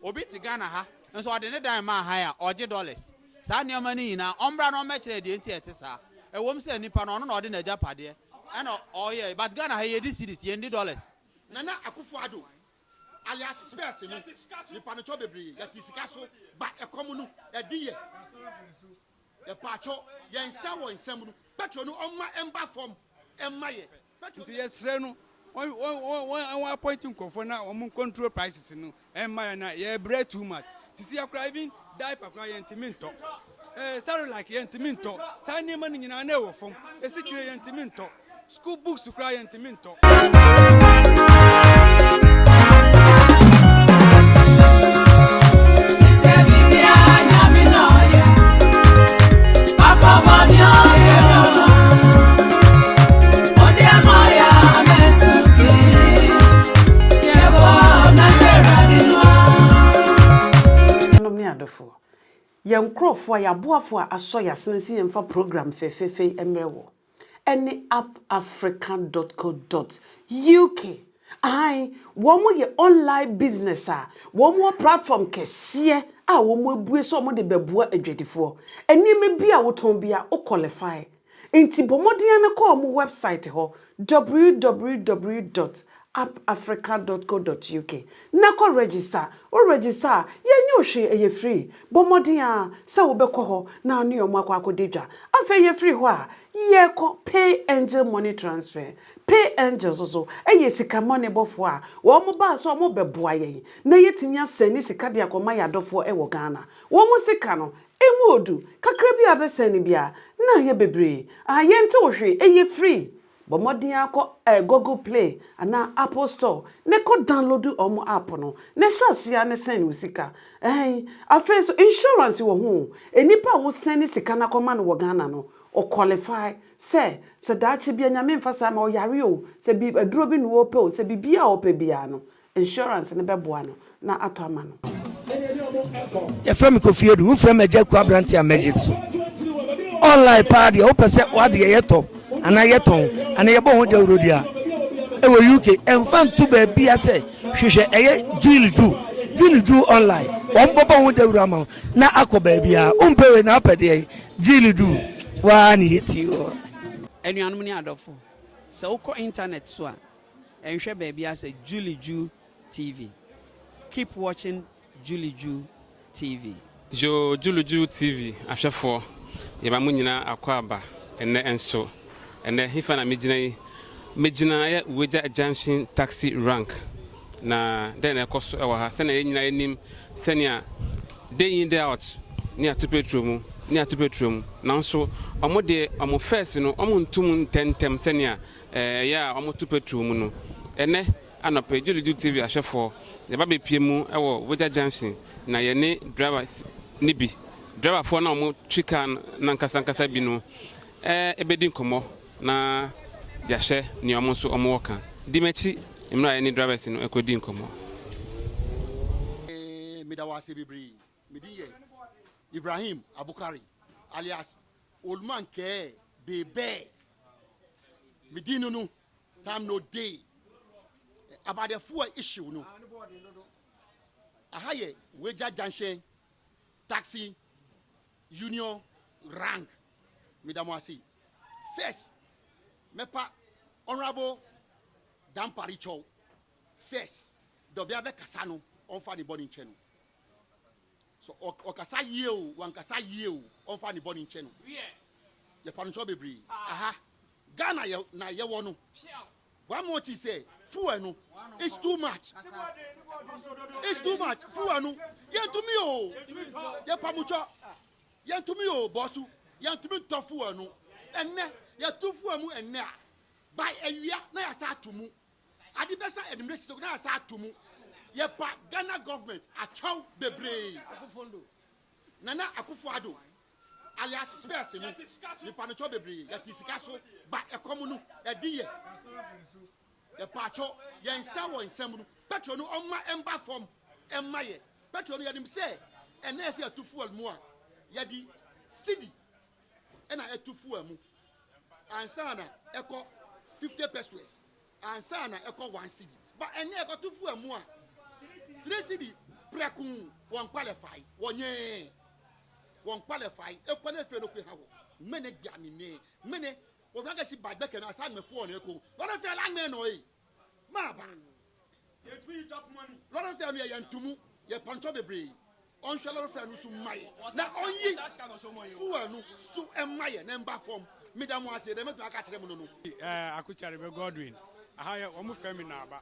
Obi te Ghana ha nso ɔde ne dan maa hann a, ɔgye dollars. Saa nneɛma no nyinaa, ɔmmra na ɔmmɛkyerɛ deɛ nti a ɛte saa. Ɛwom sɛ nipa no, ɔno na ɔde n'agyapadeɛ ɛna ɔyɛe, but Ghana ha yɛdi cedis, yɛnni dollars. Nana Akufo-Addo alias Spears no, nipa no kyɔ bebree, yɛte sika so, ba ɛkɔm no, ɛde yɛ. Yɛpaakyɔ, yɛn nsa wɔ nsam no, petrol no ɔmma ɛmba fam mma yɛ. Nti yɛsrɛ no wɔn appoint nkorɔfoɔ na wɔn control prices no ɛmma yɛn na yɛbrɛ too much sisi yɛ koraa even diaper koraa yɛn ntumi ntɔ ɛɛ cerelac yɛn ntumi ntɔ saa nneɛma no nyinaa na ɛwɔ fam esikyire yɛn ntumi ntɔ school books koraa yɛn ntumi ntɔ. yɛn nkurɔfoɔ yɛn aboafoɔ a asɔ yɛn asene sɛ yɛmfa program fɛfɛɛfɛ yi mmerɛ wɔ ɛne appafrica.co.uk ahan wɔn yɛ online business a wɔn wɔ platform kɛseɛ a wɔn abue sɛ wɔn de bɛboa adwadifoɔ nneɛma bi a wotɔn bi a wo qualify Enti bɔ mmɔden ara kɔ wɔn wɛbsaet hɔ, www dot appafrica dot co dot uk, na kɔ rɛgyista. Worɛgyista a, yɛnyɛ wo hwee, ɛyɛ firii. Bɔ mmɔden ara sɛ wobɛkɔ hɔ na wo ne wɔn akɔ akɔdi dwa. Afei yɛfiri hɔ a, yɛkɔ Pay Angel Money Transfer. Pay Angel nso so yɛ sika mmɔnebɔfoɔ a wɔbaa sɛ wɔrebɛboa yɛn na yɛatumi asɛne sika de akɔma yɛn adɔfoɔ wɔ Ghana. Wɔn sika no, Ewu odu kakra bi a abɛsɛe no biara, na ayɛ bebree a yɛntew hwee ɛyɛ free. Bɔ mmɔden ara kɔ Google Play anaa Apple Store ne kɔ download wɔn app no na hyɛ aseɛ ara ne sɛn wo sika. Ɛɛn, afei nso insurance wɔ ho oo, nnipa a wo sɛne sika no akɔma no wɔ Ghana no, wɔ qualify sɛ sɛ daakye bi a Nyame mfa saa mma wo yare oo, sɛ bi aduro bi na wɔpɛ oo, sɛ biribiara a wɔpɛ biara no, Insurance no bɛboa no na atɔ ama no. Yɛfrɛ me Kofi Adu. Wofrɛ me Agya Aku aberante a mɛgye so. Online paa deɛ wopɛ sɛ w'adeɛ yɛtɔ anaa yɛtɔn anaa yɛbɔ ho dawurodi a ɛwɔ UK ɛmfa nto baabia sɛ hwehwɛ ɛyɛ Jewel Ju June Ju online wɔn bɔbɔ ho dawuro ama wo na akɔ baabia wompɛ wei na apɛ deɛ Jewel Ju waa ne yɛti wɔ. Anuanom ne adɔfo, sɛ wokɔ intanɛt so a, Nhwɛ baabi ara sɛ Julie Ju TV. Keep watching Julie Ju TV. Yo Julie Ju TV ahwɛfoɔ, yɛma mo nyinaa akwaaba ɛnnɛ nso. Ɛnnɛ hefa na megyina yi? Megyina ɛyɛ Uweja Junction Taxi Rank. Na dɛn na ɛkɔ so wɔ ha? Sɛnea yɛn nyinaa yɛnim sɛnea day in day out ne yɛato petro mu ne yɛato petro mu. Nanso wɔn deɛ wɔn fɛs no wɔnto mu ntɛntɛm sɛnea Ɛyɛ a wɔto petrol mu no. Ɛnnɛ anɔpa yi, Julie Ju TV ahwɛfoɔ, yɛba bɛpue mu wɔ Wogya Junction na yɛne drivers no bi, driverfoɔ no a wɔtwi car no n'ankasa ankasa bi no ɛbɛdi nkɔmmɔ na yɛahwɛ nea wɔn nso wɔwɔ ka. Di m'akyi mmerɛ a yɛne drivers no ɛkɔdi nkɔmmɔ. Meda wo ase bebree. Me din yɛ Ibrahim Abukari alias Oldman kɛɛ be bɛɛ me din no no time no day about the fuel issue no aha yɛ wagya junction taxi union rank meda mo ase first mɛpa honorable dampare kyɛw first dɔbea bɛkasa no ɔmfa ne bɔne nkyɛ no So ɔkasa yie o wankasa yie o ɔnfa ne bɔne nkyɛ no yɛpa no so bebree aha Ghana yɛ na yɛwɔ no one more thing sɛ fuel no it's too much it's too much fuel no yɛntumi o yɛpa mo kyɔ yɛntumi o bɔsu yɛntumi ntɔ fuel no ɛnɛ yɛto fuel mu ɛnɛ a by awia na yɛasa ato mu Ade bɛsa anwummerɛ six na yɛasa ato mu. Yɛba Ghana government akyɛw bebree. Nana Akufo Addo alias Spears no nipa no kyɛw bebree yɛte sika so ba ɛkɔm no ɛde yɛ. Yɛpaakyɔ yɛn nsa wɔ nsɛm no petrol no ɔmma ɛmba fam ɛmma yɛ. Petrol no yɛnim sɛ ɛnɛ yɛsɛ yɛto fuel mu a yɛde cedi ɛna ɛto fuel mu. Ansa na ɛkɔ fifty pesewas ansa na ɛkɔ one cedi ba ɛnɛ ɛkɔto fu amu a three cedi prɛko wɔn kpalɛ fae wɔnyɛɛ wɔn kpalɛ fae ekɔ ne fɛ no kwe ha wɔ mene gba mene mene wɔn agasi ba gbɛkɛ na asa agbɛfoɔ na ɛkɔ wɔn fɛ la agbɛ nɔ ee. Maaba. Yɛntumi yi tap money. Lɔre fare no yɛ yɛn to mu, yɛ pɔntɔ bebree. Ɔnhwɛ lɔre fare no so mma yɛ na ɔnyi fuel no so mma yɛ na ɛmba fɔm. Meda mo ase, deɛ mɛtumi aka akyerɛ mo no no. Eh, Aku Kyarebe Godwin. Aha yɛ, wɔn frɛ me Naaba.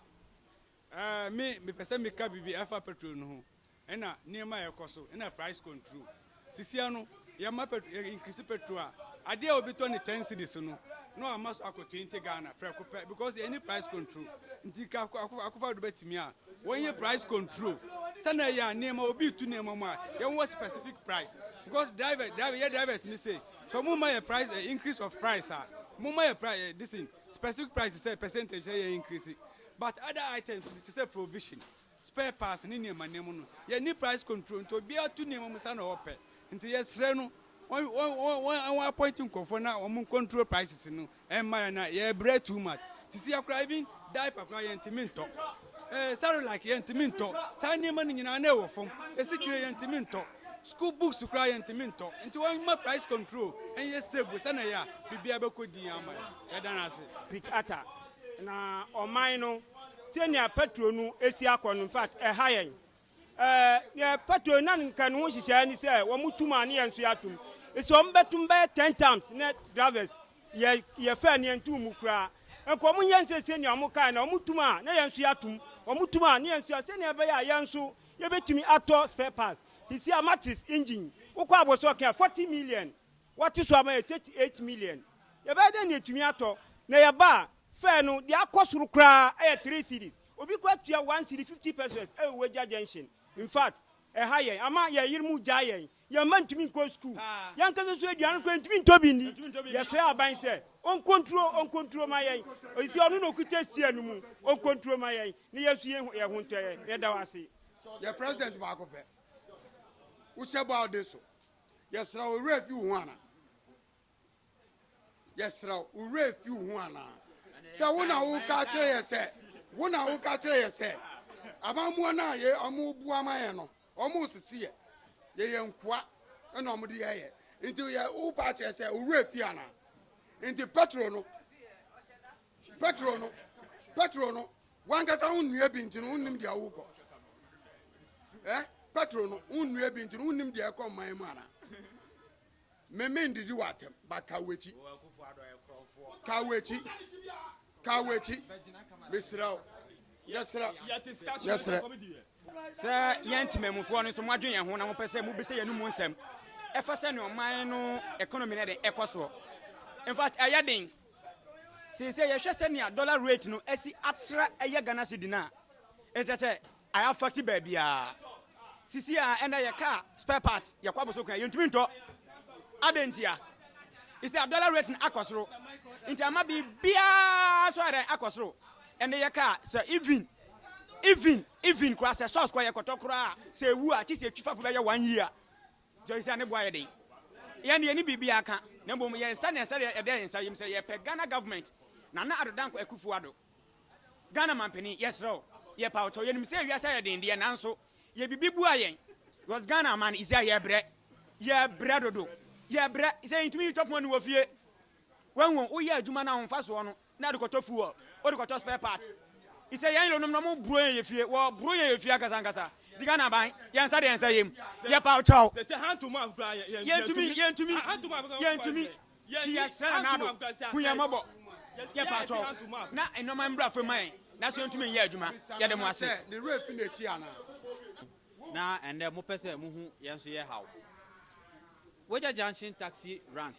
Eh, me, mepɛ sɛ meka biribi ɛfa petrol no ho. ɛna nneɛma a ɛkɔ so ɛna price control sisia no yɛma pɛtro yɛ increase pɛtro a adeɛ a obi tɔ ne ten cities no na wama so akɔ twenty Ghana prɛko pɛ because yɛn ni price control nti ka akofo akofo ado bɛtumi a wɔn yɛ price control sɛnɛ yɛ a nneɛma obi tu nneɛma mu a yɛn wɔ specific price because driver driver yɛ drivers ni se so mo ma yɛ price eh, increase of price a mo ma yɛ price eh, this in specific price sɛ percentage sɛ yɛ increase but other items ti sɛ provision spare parts ne nneɛma nneɛma no yɛnni price control nti obiara tu nneɛma mu sa na ɔpɛ nti yɛsrɛ no wɔn wɔn wɔn wɔn wɔn appoint nkurɔfoɔ na wɔn control prices no ɛmma yɛn na yɛbrɛ too much sisi akora even diaper kora yɛntumi ntɔ ɛɛ eh, sarolike yɛntumi ntɔ saa nneɛma no nyinaa na ɛwɔ fam esikyire yɛntumi ntɔ school books kora yɛntumi ntɔ nti wɔn ma price control ɛnyɛ stable sɛ na yɛ a biribiara bɛkɔ din ama yɛn yɛda no ase. Pick Atta Na ɔman no, sɛnea Petro no si akɔ no, in fact, ɛha yɛn. Ɛɛ, nea Petro na nka ne ho nhyehyɛe ne sɛ wɔtum a ne yɛn nso yɛatum. Sɛ wɔbɛtum bɛyɛ ten times ne drivers, yɛ yɛfɛ ne yɛntum mu koraa. Nka wɔnyɛ nsɛ sɛnea wɔkae na wɔtum a na yɛn nso yɛatum. Wɔtum a ne yɛn nso a sɛnea ɛbɛyɛ a yɛn nso yɛbɛtumi atɔ spare parts. Te sɛ a Mattis engine, wokɔ abɔso ɔka a, 40 million. Wɔato so ama yɛ 38 million. Yɛbɛyɛ dɛn na yɛatumi atɔ? Na yɛba a, fare no, deɛ akɔ soro koraa yɛ three cedis. Obi koraa tua one cedi fifty pesewas wɔ Ueja junction. Infact, ɛha yɛn, ama yɛn yerenom regyae yɛn. Yɛn mma ntumi nkɔ sukuu. Yɛn ankasa nso aduane koraa yɛntumi ntɔ bi nni. Yɛsrɛ aban sɛ ɔnkontro, ɔnkontro mma yɛn. Ɔsi sɛ ɔno na ɔkuta Sia no mu. Ɔnkontro mma yɛn, na yɛn nso yɛn yɛn ho ntɔ yɛn. Yɛda wo ase. Yɛ president baako pɛ. Wo hyɛ bɔ a wode so. Yɛsrɛ wo, wo werɛ afi wo ho anaa? Yɛsrɛ wo, wo werɛ afi wo ho anaa? Sɛ wo na woka akyerɛ yɛn sɛ, wo na woka akyerɛ yɛn sɛ, amammoa no a yɛ, wɔboa ma yɛn no, wɔresese yɛn, yɛyɛ nkoa, ɛna wɔde yɛn yɛ. Nti yɛ, wopa akyerɛ sɛ, wo werɛ afi anaa? Nti Petro no, Petro no, Petro no, w'ankasa wonnua bi nti no wonnim deɛ wokɔ. Eh, Petro no, wonnua bi nti no wonnim deɛ ɛkɔ mman mu anaa? Me mendidi w'atɛm, ba ka w'akyi. Ka w'akyi. Ka w'akyi. Mesrɛ wo. Yɛsrɛ. Yɛsrɛ. Sɛ yɛn temamufoɔ no nso moadwe yɛn ho na mopɛ sɛ mobisa yɛn mu nsɛm ɛfa sɛ ne ɔman no economy no ɛde ɛkɔ soɔ. In fact, ɛyɛ den. Seesei yɛhwɛ sɛnea dollar rate no asi atra ɛyɛ Ghana cedi no a, ɛkyerɛ sɛ I affect baabiara. Sisi a ɛnɛ yɛ car spare part yɛkɔ abosoko a yɛntumi ntɔ. Adɛn ntia? Isi a dollar rate no akɔ soro. Nti ama biribiara so ayɛ dɛn akɔ soro. Ɛnɛ yɛ car sɛ even even even koraa sɛ sauce koraa yɛkɔtɔ koraa sɛ ewu a kye sɛ etwifafo bɛyɛ one year Sɛ sɛ ne bo ayɛ den. Yɛn de yɛnni biribiara ka na mmom yɛyɛ sɛnea sɛdeɛ ɛda yɛn nsa yam sɛ yɛpɛ Ghana government Nana Addo Dankwa Akuffo Addo Ghana manpanin yɛsrɛ wo yɛpa wo kyɛw yɛnim sɛ wiase ayɛ den deɛ nanso yɛ biribi bua yɛn because Ghana aman is a yɛbrɛ yɛbrɛ dodo yɛbrɛ sɛ yɛntumi yi tɔpon aniwɔ fie Wahu woyɛ adwuma no ahomfasoɔ no na wode kɔtɔ fuel, wode kɔtɔ spare part. Isɛ yɛn yerenom no mo boro yɛn yɛ fie, wɔ boro yɛn yɛ fie ankasa ankasa. Di Ghana aban, yɛn nsa de yɛn nsa yɛm, yɛ paw kyɛw. Yɛn tumi, yɛn tumi, yɛn tumi, ti yɛ srɛ Nana Addo, hu yɛn mmɔbɔ, yɛ paw kyɛw, na nnoɔma mbra fam ma yɛn, nanso yɛn tumi nyɛ adwuma, yɛ de mo ase. Na ɛndɛ mo pɛ sɛ mo hu yɛn nso yɛ haw. Wagya Junction taxi rank.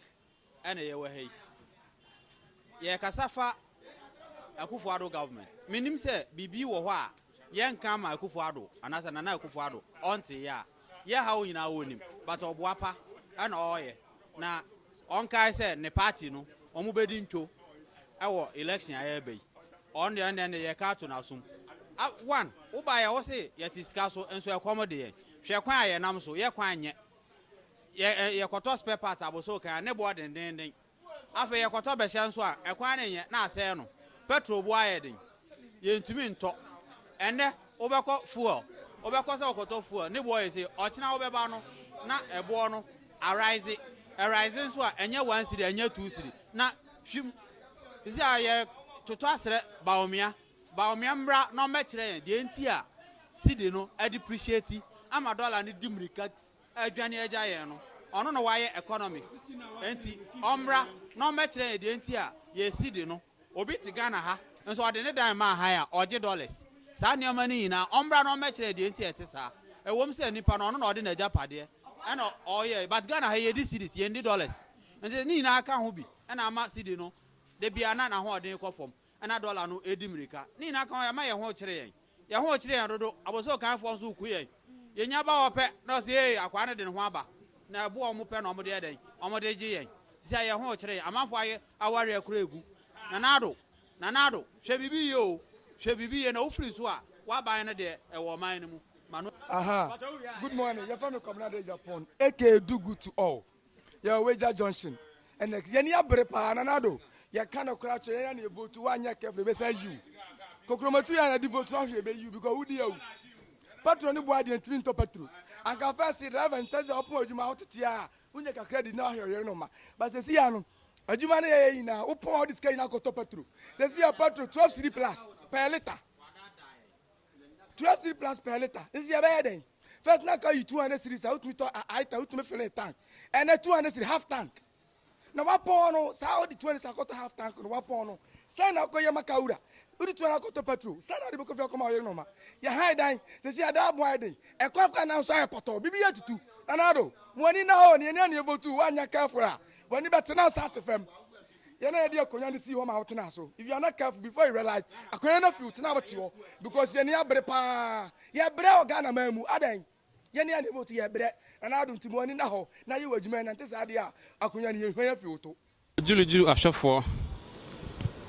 na yɛwɔ ha yi, yɛrekasa fa Akufo-Addo government. Mennim sɛ biribi wɔ hɔ a yɛnka ama Akufo-Addo anaasɛ Nana Akufo-Addo ɔnte yɛ a. Yɛ haw nyinaa ɔnim but ɔboa pa na ɔreyɛ. Na ɔnkae sɛ ne party no wɔbɛdi ntwo wɔ election a ɛreba yi. Ɔno deɛ ɛnneɛ no yɛreka ato n'asom. One, wobaeɛ wose yɛte sika so nso ɛkɔm de yɛn. Hwɛ kwan a yɛnam so, yɛ kwan nyɛ. Yɛ yɛkɔtɔ spare parts abosoo kan a, ne bo adendeenden. Afei yɛkɔtɔ bɛhyɛ nso a, ɛkwan no nyɛ na asɛe no. Petrol bo ayɛ den. Yɛntumi ntɔ. Ɛnnɛ wobɛkɔ fuel, wobɛkɔ sɛ wokɔtɔ fuel, ne boɔ yɛ sei. Ɔkyena wobɛba no na ɛboɔ no arise. Ɛrise nso a, ɛnyɛ one cedi, ɛnyɛ two cedi, na hwim. Sisi a yɛtotɔ asrɛ Bawumia Bawumia mmra na ɔmmɛkyerɛ yɛn deɛ nti a cedi no adepreciate ama dollar no di mmirika adwane agya yɛn no. Ɔno na wayɛ economics nti ɔmmra na ɔmmɛkyerɛ yɛn deɛ nti a yɛn cedi no, obi te Ghana ha nso ɔde ne dan maa hann a ɔgye dollars. Saa nneɛma no nyinaa ɔmmra na ɔmmɛkyerɛ yɛn deɛ nti a ɛte saa. Ɛwom sɛ nipa no ɔno na ɔde n'agyapadeɛ na ɔyɛe but Ghana ha yi yɛdi cedis, yɛnni dollars nti ne nyinaa ka ho bi na ama cedi no da biara na n'ahoɔden kɔ fam. na dɔla no redi mmirika. Ne nyinaa ka ho yɛma yɛn ho kyere yɛn. Yɛn ho kyere yɛn dodo. Abosokanfoɔ nso ku yɛn. Yɛnya ba hɔ pɛ na wɔse ee akwaa no de ne ho aba. Na ɛbo a wɔpɛ na wɔde yɛ dɛn? Wɔde gye yɛn. Sisi a yɛn ho kyere yɛn. Amanfoɔ ayɛ awareɛ koraa agu. Nana Addo, Nana Addo, hwɛ biribi yie o, hwɛ biribi yie na wofiri nso a, w'aban no deɛ ɛwɔ ɔman no mu. Ma no. Ahaa, good morning, yɛfrɛ me Kwabena Addo Agyapong aka Dugu to all. Yɛwɔ Weija junction ɛnɛ yɛni abere paa nana do yɛka no koraa kyerɛ yɛn na ne vote woanyɛ careful ebɛsa yiw kokromatu yɛ na di vote no ahwe ebe yiw because wodi awu patro ne boa deɛ ntumi ntɔ patro anka fɛsi driver nta sɛ ɔpon adwuma wotete a wonyɛ kakra di na ahwe ɔyere no ma ba sɛ si ya no adwuma no yɛyɛ nyinaa wopon a wode sika nyinaa kɔtɔ patro sɛ si ya patro 12 city plus per liter twelve cedi plus per litre nti yɛbɛyɛ dɛn first na ka yi two hundred cedi sa wotumi tɔ aita wotumi fili tank ɛnɛ two hundred cedi half tank na wapɔn no saa ɔde two hundred sa akɔtɔ half tank no wapɔn no sɛn na akɔyɛ maka wura wode two hundred akɔtɔ petrol sɛn na ɔde bɛkɔ fi akɔma ɔyere nɔma yɛhan dan sisi ada aboa yɛ den ɛkɔ akɔ anan nso ayɛ pɔtɔ bibi yɛ tutu nanado mo ani na hɔ ne ɛni ani evotu wanya kɛfora wani bɛtena nsa ate fam yɛ na yɛde akonnwa no sii hɔ ma wotenaa so if you are not careful before you realize akonnwa no afi wo tena wote hɔ because yɛne abere paa yɛbrɛ wɔ ghana man mu adɛn yɛne a neighbor to yɛbrɛ na na adom timo ani na hɔ na yɛ wɔ adwuma ɛnante saa adeɛ a akonnwa no yɛhwan afi wo to Ɔgyurugyuru ahwɛfoɔ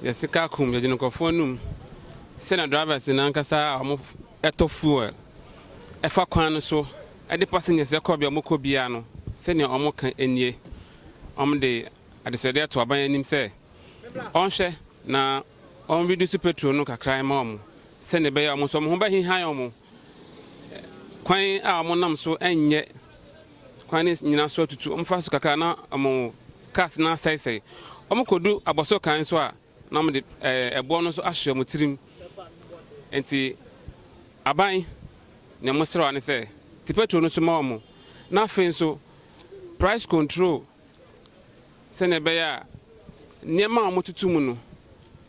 yɛ sika akum yɛgyina nkurɔfoɔ anum sɛnea drivers no ankasa a wɔtɔ fuel ɛfa kwan no so de passengers kɔ bea wɔkɔ biara no sɛnea wɔka nie wɔde Adesrɛdeɛ to aban anim sɛ ɔnhwɛ na wɔn reduce petrol no kakra mma wɔn sɛdeɛ ɛbɛyɛ a wɔn nso wɔn ho bɛhehan wɔn. Kwan a wɔn nam so nyɛ kwan no nyinaa so atutu, wɔn fa so kakra na wɔn cars no asɛesɛe. Wɔn kɔdu abɔso kan so a na wɔn de ɛboɔ no nso ahye wɔn tirim. Nti aban na wɔn srɛ ne sɛ te petrol no so ma wɔn na afei nso price control sɛnea ɛbɛyɛ a nneɛma a wɔtoto mu no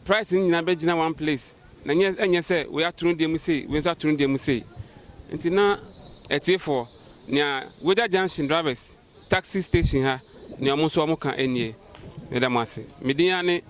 price no nyinaa bɛgyina one place na nyɛ ɛnyɛ sɛ wei ato no deɛ mu sei wei nso ato no deɛ mu sei nti na atiefoɔ nea wagya junction drivers taxi station ha nea wɔn nso wɔn ka nie meda mo ase medin ara ne